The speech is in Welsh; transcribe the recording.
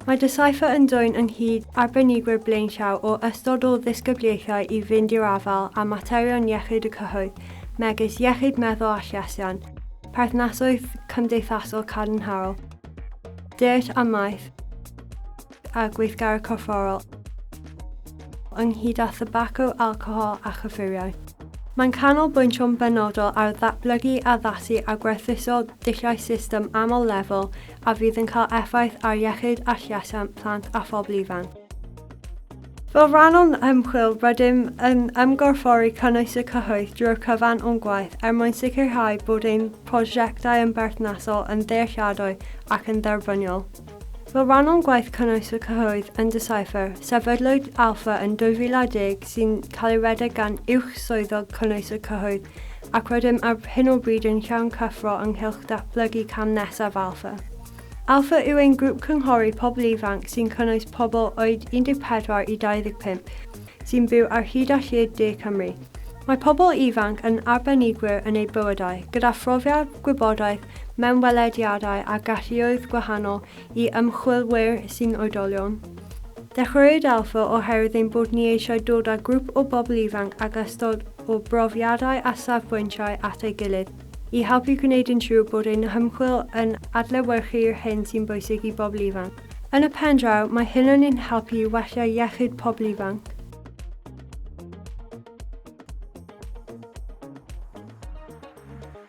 Mae Decipher yn dwyn ynghyd arbenigwyr blaenllaw o ystod o ddisgyblaethau i fynd i'r afael â materion iechyd y cyhoedd, megis iechyd meddwl a llesiant, perthnasoedd cymdeithasol cadarnhaol, diet a maeth, a gweithgaredd corfforol, ynghyd â thybaco, alcohol a chyffuriau. Mae'n canolbwyntio'n benodol ar ddatblygu, addasu a gwerthuso dulliau system aml lefel a fydd yn cael effaith ar iechyd a llesiant plant a phobl ifanc. Fel rhan o'n ymchwil, rydym yn ymgorffori cynnwys y cyhoedd drwy'r cyfan o'n gwaith er mwyn sicrhau bod ein prosiectau yn berthnasol, yn ddealladwy ac yn dderbyniol. Fel rhan o'n gwaith cynnwys y cyhoedd yn Decipher, sefydlwyd Alpha yn 2010 sy'n cael ei redeg gan Uwch Swyddog Cynnwys y Cyhoedd ac rydym ar hyn o bryd yn llawn cyffro ynghylch datblygu cam nesaf Alpha. Alpha yw ein grŵp cynghori pobl ifanc sy'n cynnwys pobl oed 14 i 25 sy'n byw ar hyd a lled de Cymru. Mae pobl ifanc yn arbenigwyr yn eu bywydau, gyda phrofiad, gwybodaeth, mewnwelediadau a galluoedd gwahanol i ymchwilwyr sy'n oedolion. Dechreuwyd Alpha oherwydd ein bod ni eisiau dod â grŵp o bobl ifanc ag ystod o brofiadau a safbwyntiau at ei gilydd i helpu gwneud yn siŵr bod ein hymchwil yn adlewyrchu'r hyn sy'n bwysig i bobl ifanc. Yn y pen draw, mae hyn yn ein helpu i wella iechyd pobl ifanc.